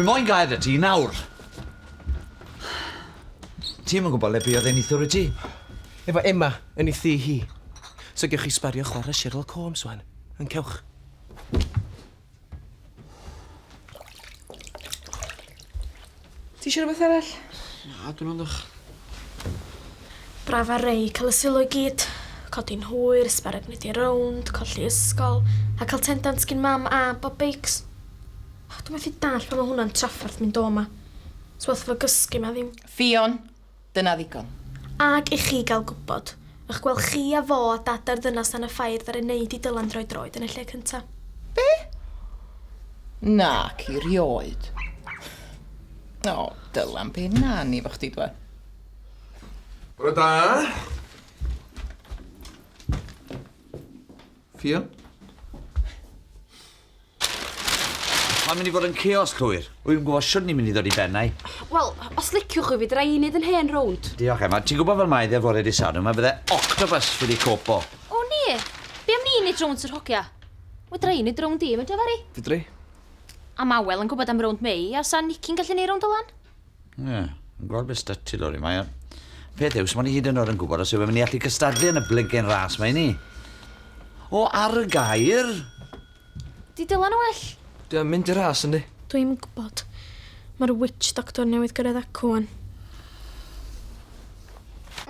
Wi moyn gair y ti nawr. Ti ddim yn gwybod le buodd ei nithwr i ti. Efo Emma yn ei thi hi. So gewch chi sbario chwarae Sherlock Holmes wan. Yn cewch. Ti eisiau rhywbeth arall? Na, dwi'n ond o'ch. Braf ar rei, cael y sylw i gyd. Codi'n hwyr, sbarag nid i rownd, colli ysgol, a cael tendant gyn mam a bob beics. Oh, dwi'n methu dall pan mae hwnna'n traffarth mynd o yma. Swath fo gysgu ma ddim. Ffion, Dyna ddigon. Ac i chi gael gwybod, ych gweld chi a fo a dad a'r ddynas dan y ffair ddaru wneud i Dylan droi droed yn y lle cynta? Be? Nac i rioed. O, Dylan, be nawn ni fo chdi dwa? Bore da. Ffion? Mae'n mynd i fod yn chaos cywir. Wyf yn gwybod siwrn ni'n mynd i ddod i ben ai. Wel, os liciwch chi fi, dra i wneud yn hen rownd. Diolch, Emma. Ti'n gwybod fel mae dde fore di Sadwrn, mae fydde octopus wedi copo. O nie! Be am ni wneud rownd Sir Hogia? Fedra i wneud rownd i, Menter Fari. Fedri. Am awel yn gwybod am rownd Mei, a 'sa Nicky'n gallu wneud rownd o lan? Ie, yeah, yn gweld beth statty lori mae. Peth yw, sy'n ni hyd yn oed yn gwybod os yw'n mynd i allu cystadlu yn y blygen ras mae ni. O, ar y gair! Di dylan o well. Di o'n mynd i ras, yndi? Dwi'n gwybod. Mae'r witch doctor newydd gyrraedd acw wan.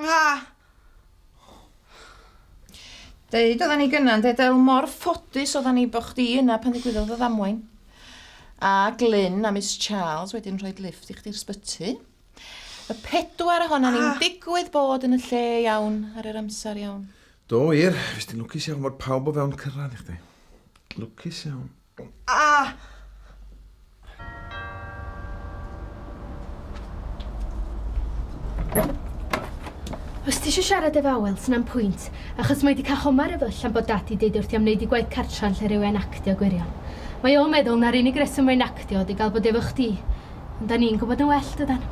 Ah! Deud oedden ni gyna, ynde Del, mor ffodus oedden ni bod chdi yna pan ddigwyddodd y ddamwain. A Glyn a Miss Charles wedyn rhoi lift i chdi'r sbyty. Y pedwar ohona ni'n ah. digwydd bod yn y lle iawn ar yr amser iawn. Do, wir, fes ti'n lwcus iawn fod pawb o fewn cyrraedd i chdi. Lwcus iawn. Ah! Os ti eisiau siarad efo Awel, sy'n am pwynt, achos mae di cael homar efo allan bod dad di deud wrth i am wneud i gwaith cartra yn lle rhyw hen actio gwirion. Mae o'n meddwl na'r unig reswm mae'n actio ydi gael bod efo chdi, ond da ni'n gwybod yn well dydan?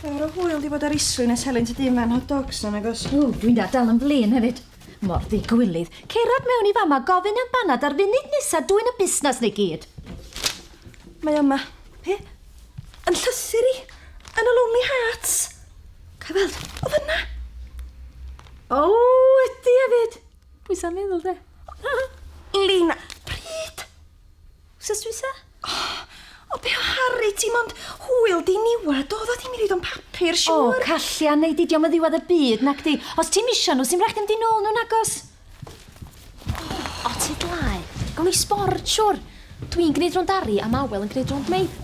Ar y hwyl di bod ar islwyn a selyn tŷ dim fan hot dogs na nagos? O, dwi'n da dal yn flin hefyd. Mor ddigwilydd. Cerad mewn i fama, gofyn am banad ar funud nesa dwyn y busnas neu gyd. Mae yma. He? Yn llythyr i. Yn y Lonely Hearts. Cael weld. O fyna. O, ydy hefyd. Pwysa meddwl de. Lina, pryd? Wsos dwytha? O, o be o Harry ti mond hwyl diniwed oedd o ddim i reid o'n papur, O, siwr. Callian, neu di diom yn ddiwedd y byd, nac di. Os ti'n misio nhw, sy'n rhaid chdi mynd i nôl nhw, nagos? O, ti dlai. Gawn ni sbord, siwr. Dwi'n gwneud rownd Ari a Mawel yn gwneud rownd Meid.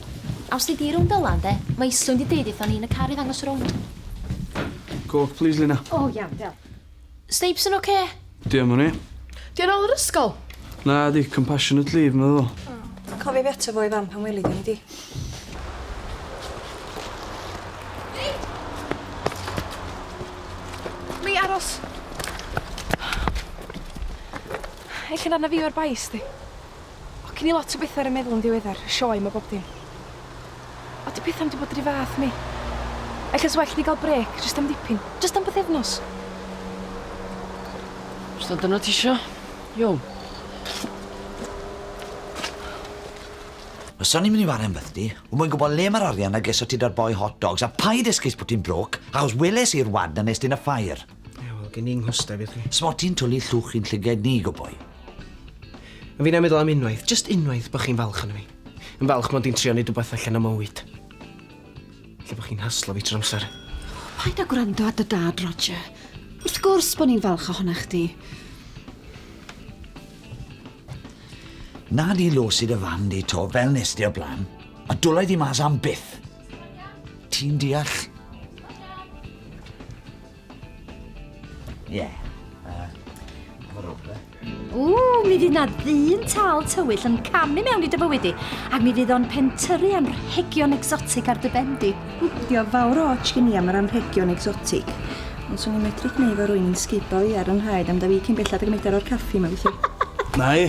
A os nei di rownd Dylan, de, mae Islwyn di deud eitho ni yn y car i ddangos y rownd. Coch, plis, Lina. O, iawn, diolch. Snapes yn oce? Di am o'n i? Di o'n ôl yr ysgol? Na, di compassionate leave, meddwl fo. Oh. Cofio fi ato fo i fan pan weli di, di. Lee, aros. Eich yn arna fi o'r bais, di. O gin i lot o betha ar y meddwl yn ddiweddar, y sioe 'ma bob dim. O 'di petha'm 'di bod ry fath mi. Ella sa well di ga'l brêc, jyst am dipyn, jyst am bythefnos. Os na dyna tisio, iawn. Fyswn i'n mynd i wario am fythdi, wi moyn gwybod le mae'r arian a geso ti da'r boi hot dogs a paid esgus bod ti'n broke, achos weles i'r wad na nes ti yn y ffair. Ie, wel, gen i nghwstau fi, chi. S'mod ti'n twli llwch i'n llygaid ni, go boi. A fi'n meddwl am unwaith, jyst unwaith, bo' chi'n falch ono fi. Yn falch mod i'n trio neud wbath allan o mywyd. Lle bo' chi'n haslo fi trw'r amser. Paid â gwrando ar dy dad, Roger. Wrth gwrs bo' ni'n falch ohona chdi. Na di lwcid y fan di to, fel nes di o'r bla'n. A dwla i di mas am byth. Ti'n deall? Ie. Yeah. Uh, Ww, mi fydd na ddyn tal tywyll yn camu mewn i dy bywyd i, ac mi fydd o'n pentyrru am rhegion exotic ar dy bendi. Dio fawr o ots gen i am yr anrhegion exotic. Ond swn i'n medru gwneud fo rwy'n sgeibo i ar yn rhaid am da fi cyn bellad ag y medar o'r caffi yma, felly. Nai.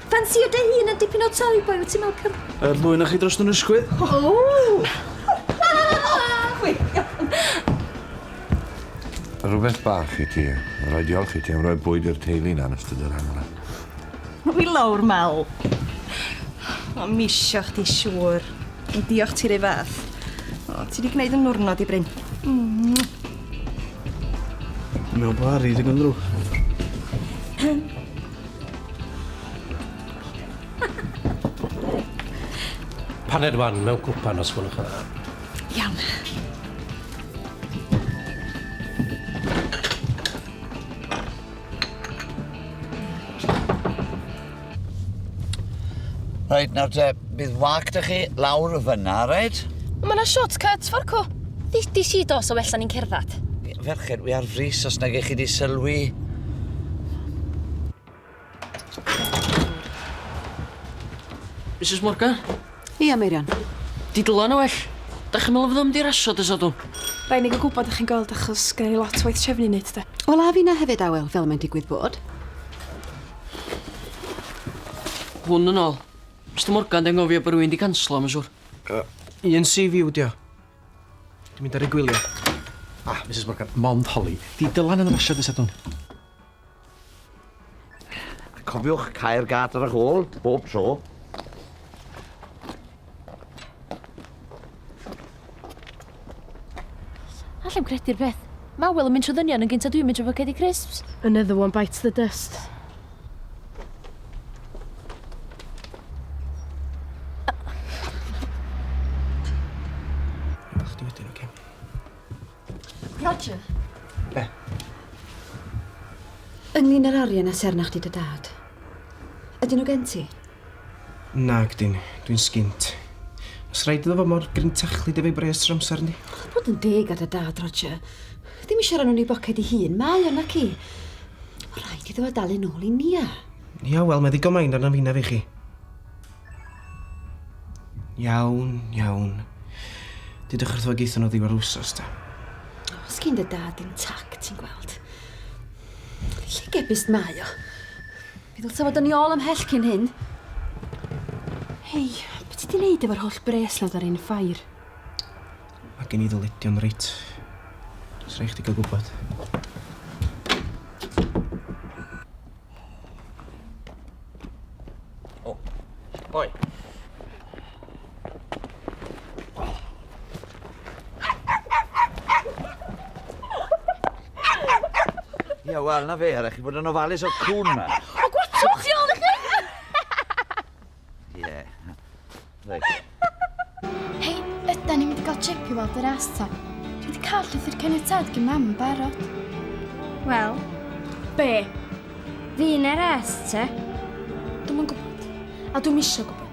Ffansïo dy hun yn dipyn o toy boy, wyt ti'n meddwl cyf... Yr ddwy o'noch chi dros yn ysgwydd? Ww! Rhywbeth bach i ti. Rhaid diolch i ti am roi bwyd i'r teulu na yn ystod yr haf 'ma. Hwyl lawr, Mal. O, misio chdi siŵr. Ond diolch ti 'r un fath. O, ti 'di gneud 'y niwrnod i, Bryn. Mwah! Dwi'n me'wl bo' Arry ddigon ddrwg. Paned wan mewn cwpan os gwelwch yn dda. Iawn. Rhaid nawr te Bydd wag 'da chi lawr fyna, reit? Ond ma' 'na short cut, Forco. Ddudish i do, so well 'da ni'n cerddad. Ferched, wi ar frys os nage chi 'di sylwi. Misus Morgan? Ia, Meirion. 'Di Dylan yn well? 'Dach chi'n meddwl fydda fo mynd i rasio dy Sadwrn? Rai' ni ga'l gwbod 'dach chi'n gweld achos gynna ni lot o waith trefnu i neud 'de. Wel a finna hefyd Awel, fel mae'n digwydd bod. Hwn yn ôl. Mister Morgan, dwi anghofio bod rwy'n di canslo, mae'n siŵr. Uh, un CV yw dio. Dwi'n mynd ar ei gwylio. Ah, Mrs Morgan, mond holi. Di dylan yn y rasio dy sadwn. Cofiwch cael gad ar y hôl, bob tro. Allai'm credu'r peth. Mae Ewell yn mynd trwy ddynion yn gynt a dwi'n mynd trwy focedi crisps. Another one bites the dust. Ydych chdi wedyn, oce? Roger. Be? Ynglŷn â'r arian a ser arnach chdi dy dad. Ydyn nhw gen ti? Nag ydyn, dwi'n sgint. Os rhaid iddo fod mor gryntachlyd efo'i bres trwy amser, yndi? Chwarae bod yn deg ar dy dad, Roger. Ddim eisiau rhan o'n ei boced ei hun, mae o, naci? Mae'n rhaid iddo fo dalu nôl i Nia. Ia, wel, mae ddigon main arna fi na fi chi. Iawn, iawn. Dydych wrth fo geithon nhw ddiwedd yr wsos, da. Os gyn dy dad dim tac, ti'n gweld. Llygebus mae o. Fe ddylsa fod yn i ôl ymhell cyn hyn. Hei, be' ti 'di neud efo'r holl bres 'na ar ein ffair? Mae gen i ddyledion reit. Sa raid chdi gael gwybod. O. Oi. Ia, wel, na fe, rhaid chi bod yn ofalus o'r cwn ma. O, gwachwch chi ôl i chi! Ie, rhaid. Hei, yda ni'n mynd i gael trip i weld yr as ta? Dwi wedi cael llythyr caniatad gen mam yn barod. Wel, be? Fi'n er as ta? Dwi'n yn gwybod, a dwi'n misio gwybod.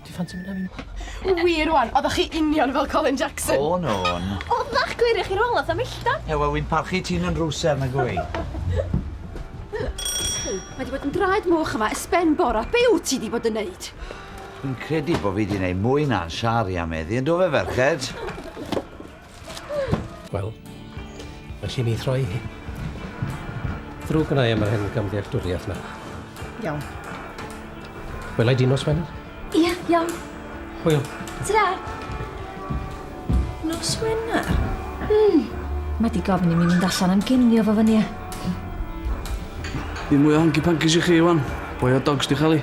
Ti'n ffansi mynd â fi? Wir wan, oeddech chi union fel Colin Jackson. O, no. Oeddech, gwir i chi rôl at y millta. He, wel, wy'n parchu ti'n yn rwser, na gwy. Mae di bod yn draed moch yma ys ben bora. Be wyt ti di bod yn neud? Dwi'n credu bod fi di neud mwy na'n siari am eddi, yn do fe, ferched? Wel, felly mi throi hi. Ddrwg yna i am yr hen gamddealltwriaeth yna. Iawn. Welai di nos Wener? Ia, iawn. Hwyl. Ta-ra! Nos Wener? Hmm. Mae di gofyn i mi mynd allan am ginio fo fyny. Ddim mwy o honky pankies i chi, Iwan. Boi o dogs di chael i.